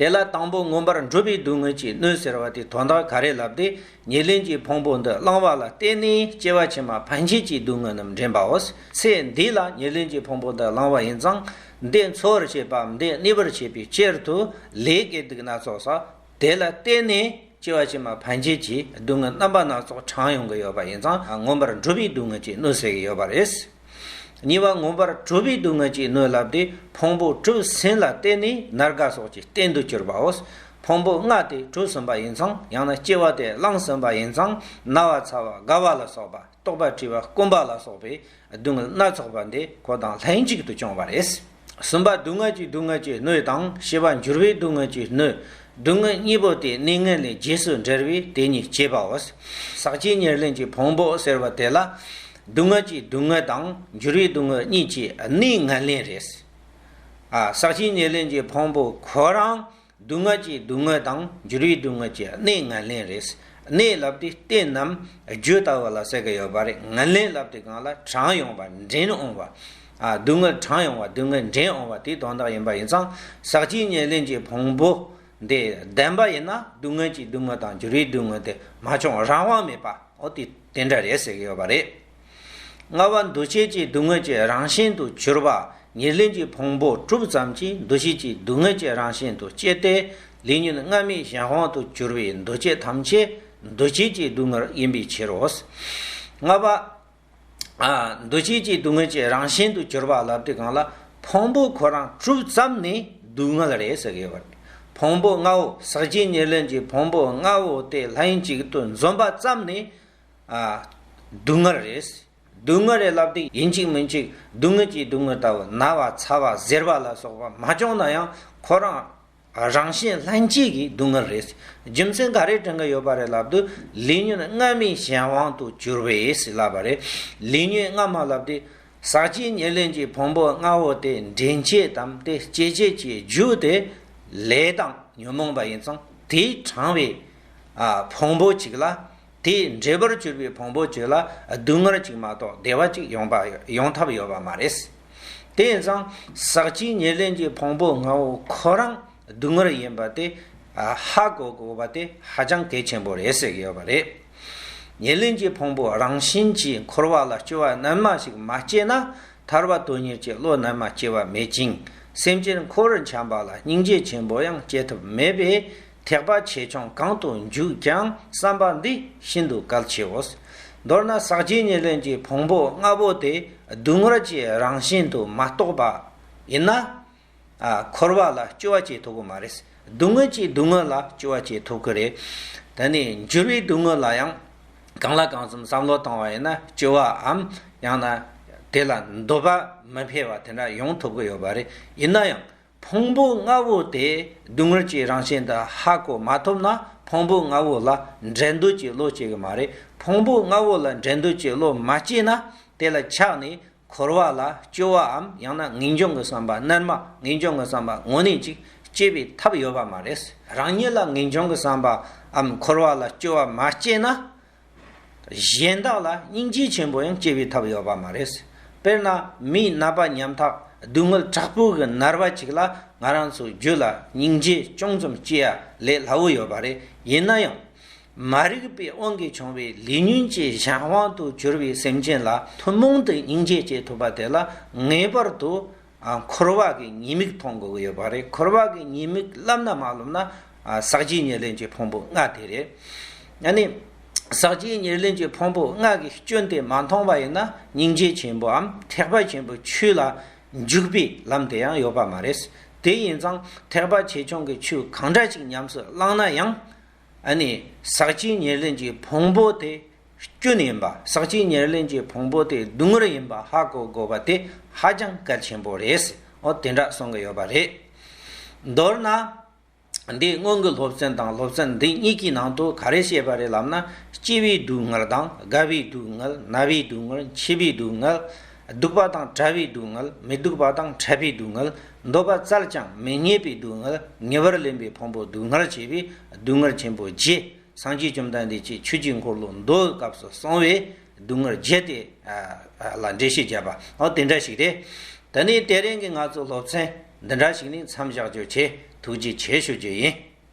དེ་ལ་དང་པོ་མངོན་པར་འགྲུབ་པའི་སྡུག་བསྔལ་གྱི་སྣོད་ཟེར་བ་དེ་དོན་དག་ག་རེ་ལབ་སྟེ་ཉེར་ལེན་གྱི་ཕུང་པོ་འདི་བླང་བ་ལ་བརྟེན་ནས་སྐྱེ་བ་ཕྱི་མ་ཕན་ཆད་ཀྱི་སྡུག་བསྔལ་རྣམས་འདྲེན་པའོ། ཚེ་འདི་ལ་ཉེར་ལེན་གྱི་ཕུང་པོ་འདི་བླང་བ་ཡིན་ཙང་འདི་འཚོ་བར་བྱེད་པའམ་འདི་གནས་པར་བྱེད་པའི་ཕྱིར་དུ་ལས་དགེ་སྡུག་སྣ་ཚོགས་སོ། དེ་ལ་བརྟེན་ནས་སྐྱེ་བ་ཕྱི་མ་ཕན་ཆད་ཀྱི་སྡུག་བསྔལ་རྣམ་པ་སྣ་ཚོགས་གྲངས་ཡོང་གི་ཡོད་པ་ཡིན་ཙང་མངོན་པར་འགྲུབ་པའི་སྡུག་བསྔལ་གྱི་སྣོད་ཟེར་གྱི་ཡོད་པ་རེད། གཉིས་པ་མངོན་པར་སྤྲུལ་པའི་སྡུག་བསྔལ་གྱིས་གནོད་བསླབས་ཏེ་ཕུང་པོ་བཀྲུ་ཟིན་ལ་བརྟེན་ནས་ནར་དགའ་སོགས་ཀྱི་རྟེན་དུ་གྱུར་པའོ། ཕུང་པོ་ལྔ་དེ་བཀྲུ་ཟིན་པ་ཡིན་ཙང་ཡང་ན་སྐྱེ་བ་དེ་བླངས་ཟིན་པ་ཡིན་ཙང་ན་བ་ཚ་བ་དགའ་བ་ལ་སོགས་པ་རྟོག་པ་བྲིད་པ་སྐོམ་པ་ལ་སོགས་པའི་སྡུག་བསྔལ་སྣ་ཚོགས་པ་འདི་ཁོ་དང་ལྷན་ཅིག་ཏུ་བྱུང་བ་རེད། གསུམ་པ་སྡུག་བསྔལ་གྱི་སྡུག་བསྔལ་གྱི་སྣོད་དང་བཞི་པ་འགྱུར་བའི་སྡུག་བསྔལ་གྱི་སྣོད། སྡུག་བསྔལ་གཉིས་པོ་དེ་གནས་ངན་ལེན་རྗེས་སུ་འབྲེལ་བས་དེ་གཉིས་བསྐྱེད་པའོ། ཟག་བཅས་ཉེར་ལེན་གྱི་ཕུང་པོ་ཟེར་བ་དེ་ལ། སྡུག་བསྔལ་གྱི་སྡུག་བསྔལ་དང་འགྱུར་བའི་སྡུག་བསྔལ་གཉིས་ཀྱི་གནས་ངན་ལེན་རེད། ཟག་བཅས་ཉེར་ལེན་གྱི་ཕུང་པོ་ཁོ་རང་སྡུག་བསྔལ་གྱི་སྡུག་བསྔལ་དང་འགྱུར་བའི་སྡུག་བསྔལ་གྱི་གནས་ངན་ལེན་རེད། གནས་ལབ་དེ་རྟེན་རྣམས་རྒྱུད་ལྟ་བུ་ལ་གསལ་གི་ཡོད་པ་རེད་ངན་ལེན་ལབ་དེ་གང་ལ་གྲངས་ཡོང་བ་འདྲེན་འོང་བ། སྡུག་བསྔལ་གྲངས་ཡོང་བ་སྡུག་བསྔལ་འདྲེན་འོང་བ་དེ་དོན་དག་ཡིན་པ་ཡིན་ཙང་ཟག་བཅས་ཉེར་ལེན་གྱི་ཕུང་པོ་འདི་བདེན་པ་ཡིན་ན་སྡུག་བསྔལ་གྱི་སྡུག་བསྔལ་དང་འགྱུར་བའི་སྡུག་བསྔལ་དེ་མ་བྱུང་རང་དབང་མེད་པ་འོ་དེ་དེ་འདྲ་རེད་ཟེར་གི་ཡོད་པ་རེད། ལྔ་བ་འདུ་བྱེད་ཀྱི་སྡུག་བསྔལ་གྱི་རང་བཞིན་དུ་གྱུར་པ་ཉེར་ལེན་གྱི་ཕུང་པོ་དྲུག་ཙམ་གྱིས་འདུ་བྱེད་ཀྱི་སྡུག་བསྔལ་གྱི་རང་བཞིན་དུ་སྐྱེ་སྟེ། ལུས་ཉོན་ལྔ་མི་གཞན་དབང་དུ་གྱུར་པའི་འདུ་བྱེད་ཐམས་ཅད་འདུ་བྱེད་ཀྱི་སྡུག་བསྔལ་ཡིན་པའི་ཕྱིར་རོ། ལྔ་བ། འདུ་བྱེད་ཀྱི་སྡུག་བསྔལ་གྱི་རང་བཞིན་དུ་གྱུར་པ་ལ་དུས་གང་ལ་ཕུང་པོ་ཁོ་རང་དྲུག་ཙམ་ནི་སྡུག་བསྔལ་རེ་ཟ་གི་བར་ཕུང་པོ་ལྔ་བོ་ཟག་བཅས་ཉེར་ལེན་གྱི་ཕུང་པོ་ལྔ་བོ་སྟེ་ལྷན་ཅིག་ཏུ་འཛོམས་པ་ཙམ་ནི་སྡུག་བསྔལ་རེད། སྡུག་བསྔལ་རེད་ལབ་སྟེ་ཡིན་གཅིག་མིན་གཅིག་སྡུག་བསྔལ་གྱིས་སྡུག་བསྔལ་ལྟ་བུ་ན་བ་ཚ་བ་གཟེར་བ་ལ་སོགས་པ་མ་བྱུང་ན་ཡང་ཁོ་རང་རང་བཞིན་ལྷན་སྐྱེས་ཀྱི་སྡུག་བསྔལ་རེད། རྒྱུ་མཚན་ག་རེ་དྲན་གྱི་ཡོད་པ་རེད་ལབ་དུས་ལུས་ཉོན་སྔ་མའི་གཞན་དབང་དུ་གྱུར་བས་ལབ་པ་རེད། ལུས་ཉོན་སྔ་མ་ལབ་སྟེ། ཟག་བཅས་ཉེར་ལེན་གྱི་ཕུང་པོ་ལྔ་བོ་དེ་འདྲེན་བྱེད་དམ་དེ་སྐྱེད་བྱེད་ཀྱི་རྒྱུ་དེ་ལས་དང་ཉོན་མོངས་པ་ཡིན་ཙང་དེའི་གྲང་བའི་ཕུང་པོ་གཅིག་ལ། དེས་འདྲེས་པར་གྱུར་པའི་ཕུང་པོ་ཁྱོད་ལ་སྡུག་བསྔལ་གཅིག་མ་གཏོགས་བདེ་བ་གཅིག་ཡོང་ཡོང་ཐབས་ཡོད་པ་མ་རེད། དེས་ཙང་ཟག་བཅས་ཉེར་ལེན་གྱི་ཕུང་པོ་ངོ་བོ་ཁོ་རང་སྡུག་བསྔལ་ཡིན་པ་དེ་ཧ་གོ་དགོས་པ་དེ་ཧ་ཅང་གལ་ཆེན་པོ་རེད་ཟེར་གྱི་ཡོད་པ་རེད། ཉེར་ལེན་གྱི་ཕུང་པོ་རང་བཞིན་གྱིས་འཁོར་བ་ལ་སྐྱོ་བ་རྣལ་མ་ཞིག་མ་སྐྱེས་ན་ཐར་བ་དོན་གཉེར་གྱི་བློ་རྣལ་མ་སྐྱེ་བ་མེད་ཅིང་སེམས་ཅན་འཁོར་བར་འཁྱམས་པ་ལ་སྙིང་རྗེ་ཆེན་པོ་ཡང་སྐྱེ་ཐབས་མེད་པས་ཐེག་པ་ཆེ་ཆུང་གང་དུ་འཇུག་ཀྱང་བསམ་པ་འདི་ཤིན་ཏུ་གལ་ཆེའོ། མདོར་ན་ཟག་བཅས་ཉེར་ལེན་གྱི་ཕུང་པོ་ལྔ་པོ་དེ་སྡུག་བསྔལ་གྱི་རང་བཞིན་དུ་མ་རྟོགས་པ་ཡིན་ན། འཁོར་བ་ལ་སྐྱོ་བ་སྐྱེ་ཐུབ་ཀྱི་མ་རེད། སྡུག་བསྔལ་གྱིས་སྡུག་བསྔལ་ལ་སྐྱོ་བ་སྐྱེ་ཐུབ་ཀྱི་རེད། ད་ནི་འགྱུར་བའི་སྡུག་བསྔལ་ལ་ཡང་གང་ལ་གང་འཚམ་བསམ་བློ་བཏང་བ་ཡིན་ན་སྐྱོ་བའམ་ཡང་ན་དེ་ལ་འདོད་པ་མི་འཕེལ་བ་དེ་འདྲ་ཡོང་ཐུབ་ཀྱི་ཡོད་པ་རེད། ཡིན་ན་ཡང་ཕུང་པོ་ལྔ་བོ་དེ་སྡུག་བསྔལ་གྱི་རང་བཞིན་དུ་ཧ་གོ་མ་ཐུབ་ན་ཕུང་པོ་ལྔ་བོ་ལ་འགྲན་བསྡུར་གྱི་བློ་སྐྱེ་གི་མ་རེད། ཕུང་པོ་ལྔ་བོ་ལ་འགྲན་བསྡུར་གྱི་བློ་མ་སྐྱེས་ན་དེ་ལ་ཆགས་ནས་འཁོར་བ་ལ་སྐྱོ་བའམ་ཡང་ན་ངེས་འབྱུང་གི་བསམ་པ་རྣལ་མ་ངེས་འབྱུང་གི་བསམ་པ་དངོས་གནས་ཅིག་སྐྱེ་བའི་ཐབས་ཡོད་པ་མ་རེད། རང་ཉིད་ལ་ངེས་འབྱུང་གི་བསམ་པའམ་འཁོར་བ་ལ་སྐྱོ་བ་མ་སྐྱེས་ན་གཞན་དག་ལ་སྙིང་རྗེ་ཆེན་པོ་ཡང་སྐྱེ་བའི་ཐབས་ཡོད་པ་མ་རེད། དཔེར་ན་མིའི་རྣ་པ་ཉམ་ཐག་སྡུག་བསྔལ་དྲག་པོའི་གི་མནར་བ་ཅིག་ལ་ང་རང་ཚོའི་རྒྱུད་ལ་སྙིང་རྗེ་ཅུང་ཙམ་སྐྱེ་ཡ་ལས་སླ་བོ་ཡོད་པ་རེད་ཡིན་ན་ཡང། མ་རིག་པའི་དབང་གིས་བྱུང་བའི་ལས་ཉོན་གྱི་གཞན་དབང་དུ་གྱུར་བའི་སེམས་ཅན་ལ་ཐུན་མོང་དུ་སྙིང་རྗེ་སྐྱེ་ཐུབ་པ་དེ་ལ་ངེས་པར་དུ་འཁོར་བ་གི་ཉེས་དམིགས་མཐོང་དགོས་ཀྱི་ཡོད་པ་རེད། འཁོར་བ་གི་ཉེས་དམིགས་བསླབ་ན་མ་བསླབ་ན། ཟག་བཅས་ཉེར་ལེན་གྱི་ཕུང་པོ་ལྔ་དེ་རེད། ཡང་ན། ཟག་བཅས་ཉེར་ལེན་གྱི་ཕུང་པོ་ལྔ་གི་སྐྱོན་དེ་མ་མཐོང་བ་ཡིན་ན་སྙིང་རྗེ་ཆེན་པོའམ་ཐེག་པ་ཆེན་པོའི་ཆོས་ལ་འཇུག་པའི་ལམ་དེ་ཡང་ཡོད་པ་མ་རེད། དེ་ཡིན་ཙང་ཐེག་པ་ཆེ་ཆུང་གི་ཆོས་གང་འདྲ་ཞིག་ཉམས་སུ་བླངས་ན་ཡང། ཨ་ནི། ཟག་བཅས་ཉེར་ལེན་གྱི་ཕུང་པོ་དེ་སྐྱོན་ཡིན་པ་ཟག་བཅས་ཉེར་ལེན་གྱི་ཕུང་པོ་དེ་སྡུག་བསྔལ་ཡིན་པ་ཧ་གོ་དགོས་པ་དེ་ཧ་ཅང་གལ་ཆེན་པོ་རེད། འོ་དེ་འདྲ་གསུང་གི་ཡོད་པ་རེད། མདོར་ན། འདིའི་སྔོན་གྱི་སློབ་ཚན་དང་སློབ་ཚན་འདི་གཉིས་ཀྱི་ནང་དུ་ག་རེ་བཤད་པ་རེད་ལབ་ན་སྐྱེ་བའི་སྡུག་བསྔལ་དང་རྒ་བའི་སྡུག་བསྔལ་ན་བའི་སྡུག་བསྔལ་འཆི་བའི་སྡུག་བསྔལ། སྡུག་པ་དང་བྲལ་བའི་སྡུག་བསྔལ་མི་སྡུག་པ་དང་ཕྲད་པའི་སྡུག་བསྔལ་འདོད་པ་བཙལ་ཀྱང་མི་རྙེད་པའི་སྡུག་བསྔལ་ཉེ་བར་ལེན་པའི་ཕུང་པོ་སྡུག་བསྔལ་བྱེད་པའི་སྡུག་བསྔལ་ཆེན་པོ་བརྒྱད་སངས་རྒྱས་བཅོམ་ལྡན་འདས་ཀྱིས་ཆོས་ཀྱི་འཁོར་ལོ་མདོའི་སྐབས་སུ་གསང་བའི་སྡུག་བསྔལ་བརྒྱད་དེ། ལ་འགྲེལ་བཤད་བརྒྱབ་པ་འོ་དེ་འདྲ་ཞིག་རེད། ད་ནི་དེ་རིང་གི་ང་ཚོའི་སློབ་ཚན་འདི་འདྲ་ཞིག་ནས་མཚམས་བཞག་རྒྱུ་བྱེད་ཐུགས་རྗེ་ཆེ་ཞུ་རྒྱུ་ཡིན།